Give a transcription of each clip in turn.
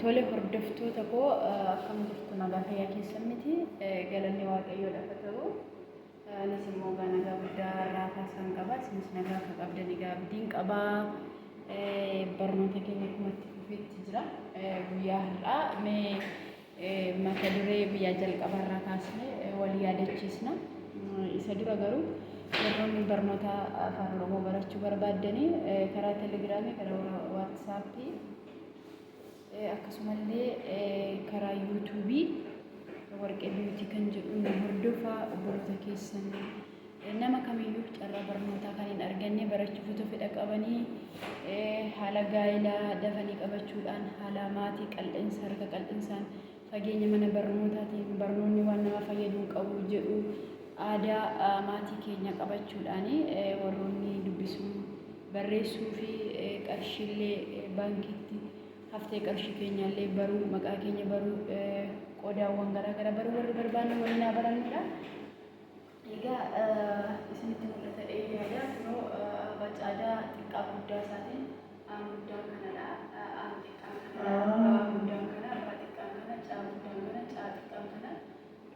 Tole hordoftoota koo akkam jirtu nagaa fayyaa keessan miti galanni waaqayyoo lafa ta'u anis immoo gaa nagaa guddaa irraa kaasaan qaba isinis nagaa akka qabdan egaa abdiin qaba barnoota keenya akkuma itti fufeetti jira guyyaa har'aa mee Mata duree guyyaa jalqabaa irraa kaasnee wal yaadachiisna. Isa dura garuu warroonni barnoota afaan Oromoo barachuu barbaaddanii karaa Telegiraamii, karaa Waatsaappii akkasumallee karaa Yuutuubii Warqee Biiwutii kan jedhu nu hordofaa obboloota keessan Nama kamiyyuu carraa barnootaa kan hin arganne barachuuf utuu fedha qabanii haala gaa'ilaa dafanii qabachuudhaan haala maatii qal'insa harka qal'insaan fageenya mana barnootaatiin barnoonni waan nama fayyadu hin qabu jedhu aadaa maatii keenya qabachuudhaan warroonni dubbisuu barreessuu fi qarshiillee baankiitti haftee qarshii keenyaallee baruu maqaa keenya baruu qodaawwan garaa garaa baruu warri barbaanne waliin haa barannudha. Egaa isinitti mul'ata dhee yaada kunoo abacaadaa xiqqaa guddaa isaatiin aan guddaan kanadha aan xiqqaan kanadha baa guddaan kana baa xiqqaan kana caa guddaan kana caa xiqqaan kana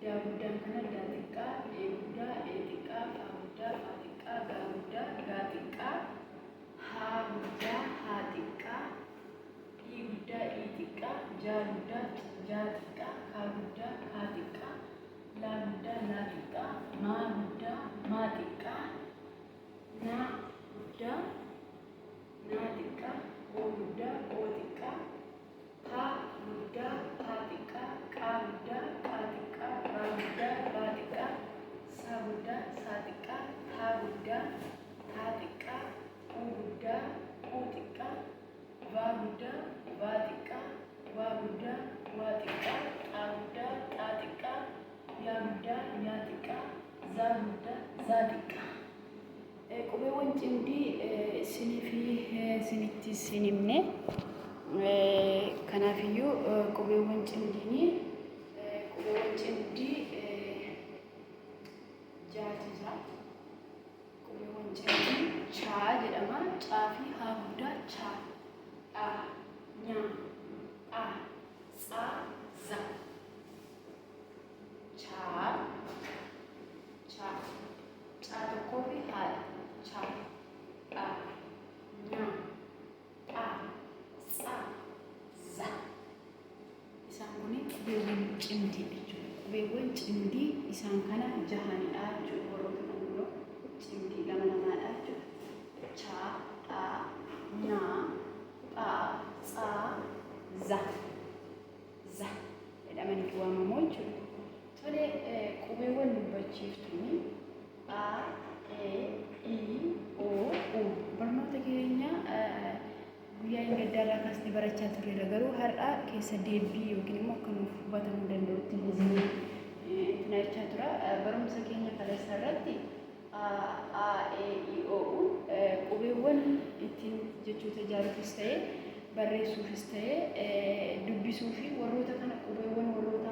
daa guddaan kana daa xiqqaa dhee guddaa dhee xiqqaa faa guddaa faa xiqqaa gaa guddaa gaa xiqqaa haa guddaa haa xiqqaa dhii guddaa dhii xiqqaa jaa guddaa jaa xiqqaa kaa guddaa kaa xiqqaa laa guddaa laa xiqqaa maa guddaa maa xiqqaa naa guddaa naa xiqqaa oo guddaa oo xiqqaa taa guddaa taa xiqqaa qaa guddaa qaa xiqqaa raa guddaa raa xiqqaa saa guddaa saa xiqqaa taa guddaa taa xiqqaa uu guddaa uu xiqqaa baa guddaa baa xiqqaa baa guddaa waa xiqqaa xaa guddaa xaa xiqqaa yaa guddaa yaa xiqqaa zaa guddaa zaa xiqqaa. Eh, Qubeewwan cimdii eh, sinii fi eh, sinitti sin himne. Eh, Kanaafiyyuu eh, qubeewwan cimdiinii eh, qubeewwan cimdii eh, jaati jira. Qubee Wancaatiin chaa jedhama. Caa fi haa guddaa cha. Dha. Nya. Dha. Tsa. Za. Chaa. Cha. Caa tokkoo fi haadha. Cha. Dha. Nya. pha, tsa, za. Isaan kun qubeewwan cimdii jechuudha. Qubeewwan cimdii isaan kana jahanidha jechuudha. Warroota kan biroo cimdii lama lamaadha jechuudha. Cha, dha, na, pha, tsa, za. za jedhamaniitu waamamoo jechuudha. Tole qubeewwan dubbachiiftuun a, e, i, o, u barnoota keenya guyyaa inni gaddaarraa kaasnee barachaa turreera. Garuu har'a keessa deebii yookiin immoo akka nuuf hubatamuu danda'utti hizinii tinachaa tura. Barumsa keenya kaleessa irratti a, aa, e, i, o, u. Qubeewwan ittiin jechoota ijaaruufis ta'e, barreessuufis ta'e, dubbisuu fi warroota kana qubeewwan warroota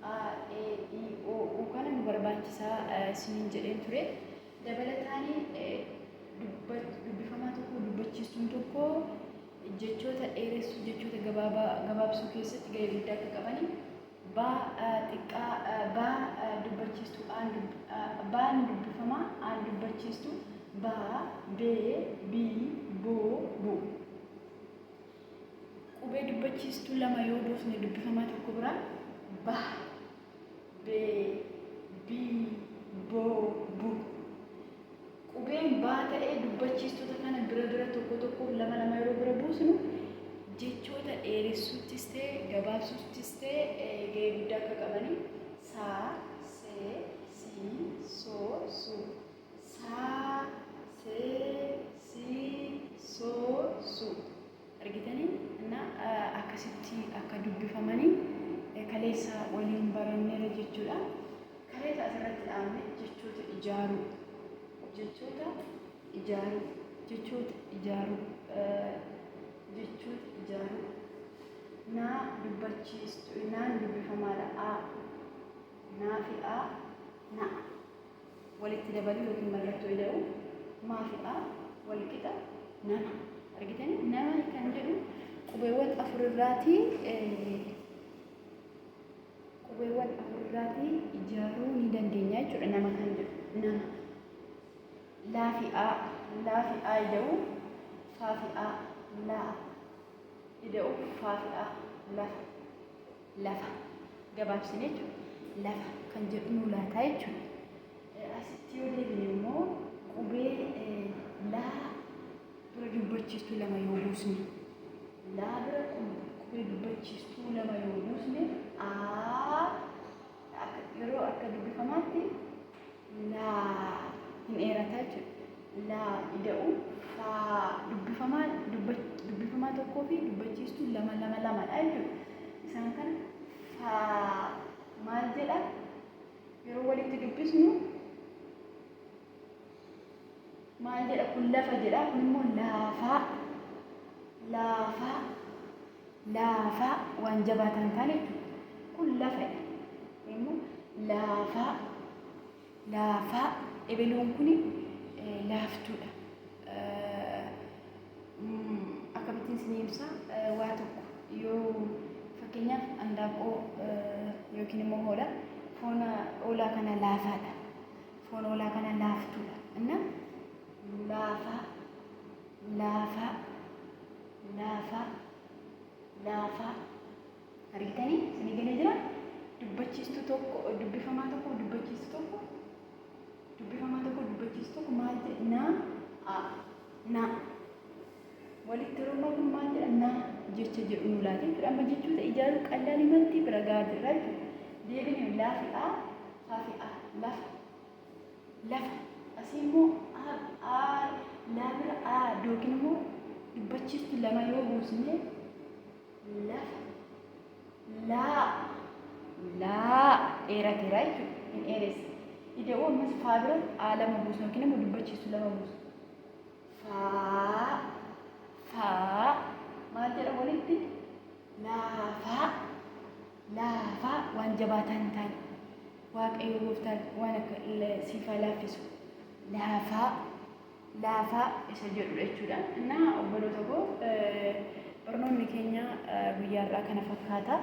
a, e, i, o, u kana nu barbaachisaa isiniin jedheen ture. Dabalataan dubbifamaa tokko dubbachiistuun tokko jechoota dheeressuu, jechoota gabaabaa gabaabsuu keessatti gahee guddaa akka qabani. B xiqqaa B dubbachiistuu aan dub B ni dubbifama aan dubbachiistuu B B B bo bu Qubee dubbachiistuu lama yoo buufne dubbifamaa tokko biraa B B B bo bu Qubeen baa ta'ee dubbachiistota kana bira bira tokko tokkoof lama lama yeroo bira buusnu jechoota dheeressuuttis ta'e gabaabsuuttis ta'e ga'ee guddaa akka qabani. Saa, see, sii, soo, suu. Saa, see, sii, soo, suu. argitanii na akkasitti akka dubbifamanii kaleessa waliin barannera jechuudha. Kaleessa asirratti dhaabne jechoota ijaaruu jechoota ijaaruu jechoota ijaaruu jechoota ijaaruu naa dubbachiistu naan dubbifamaadha a naa fi a na walitti dabaluu yookiin mallattoo ida'uu maafidha walqixa nama argitanii nama kan jedhu qubeewwan afur irraatii qubeewwan afur irraatii ijaaruu ni dandeenya jechuudha nama kan jedhu nama laafi'aa laafi'aa ida'uu faafi'aa laa ida'uu faafi'aa lafa lafa gabaabsine jechuudha. Lafa kan jedhu nuu laataa jechuudha. Asitti yoo deebine immoo qubee laa bira dubbachiistuu lama yoo buusne laa bira qubee dubbachiistuu lama yoo buusne aa yeroo akka dubbifamaatti laa hin dheerata jechuudha. laa ida'u faa dubbifamaa dubbifamaa tokkoo fi dubbachiistuu lama lama lamadha jechuudha. Isaan kana faa maal jedha yeroo walitti dubbisnu maal jedha kun lafa jedha kun immoo laafaa laafaa laafaa waan jabaa ta'an ta'an jechuudha. Kun lafadha. Kun immoo laafaa laafaa ebeluun kun laaftuudha. Akkamittiin isinii ibsaa waa tokko yoo fakkeenyaaf handaaqqoo yookiin immoo hoola foon hoolaa kana laafaadha. Foon hoolaa kana laaftuudha. Inna laafaa laafaa laafaa laafaa argitanii isinii galee jira dubbachiistuu tokko dubbifamaa tokko dubbachiistuu tokko dubbifamaa tokko dubbachiistuu tokko maal jedha naa a naa walitti yeroo kun maal jedha naa jecha jedhu nu laatee jechuudha amma jechoota ijaaruu qallaan himatti bira gahaa jirra jechuudha deebinee laafi a haafi a lafa lafa asii immoo a a laa bira a yookiin immoo dubbachiiftu lama yoo buusne lafa laa laa dheerateera jechuudha hin dheeressa ida'uu ammas faa bira a lama buusne yookiin immoo dubbachiiftu lama buusne faa faa maal jedha walitti laafaa laafaa waan jabaataa hin taane Waaqayyo gooftaan waan akka siif haa laaffisu. laafaa laafaa isa jedhudha jechuudha. Innaa obboloota koo barnoonni keenya guyyaa har'aa kana fakkaata.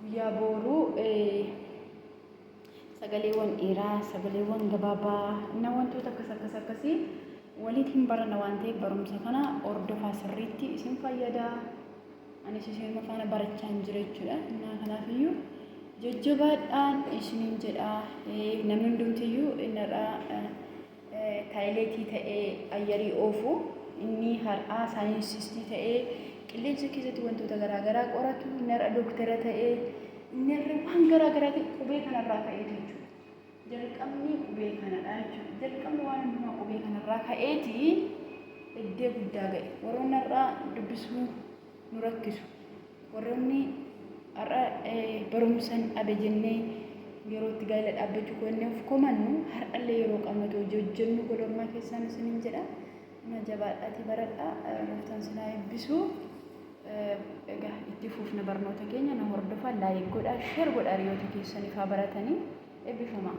Guyyaa booruu sagaleewwan dheeraa, sagaleewwan gabaabaa, na wantoota akkas akkas akkasii waliitiin barana waan ta'eef barumsa kana hordofaa sirriitti isin fayyada. Anis isinuma faana barachaan jira jechuudha. Innaa kanaafiyyuu jajjabaadhaan isiniin jedha. Namni hundumtiyyuu innarraa taayileetii ta'ee ayyarii oofu inni har'aa saayinsistii ta'ee qilleensa keessatti wantoota garaagaraa qoratu innarra dooktara ta'ee innarra waan garaagaraa ta'e qubee kanarraa ka'eetu jechuudha. Jalqabni qubee kanadha jechuudha. Jalqabni waan hundumaa qubee kanarraa ka'eeti eddee guddaa ga'e. Warroonni har'a dubbisuu nu rakkisu. Warroonni har'a barumsan dhabe jennee yeroo itti gaa'ela dhaabbachuu koonnee of komannu har'allee yeroo qabnu ta'u hojii hojjennu gola ormaa keessaan isiniin jedha. Amma jabaadhaatii baradhaa gooftaan isin haa eebbisu. Egaa itti fuufna barnoota keenya na hordofaa laayik godhaa sheer godhaa hiriyoota keessaniif haa baratanii eebbifamaa.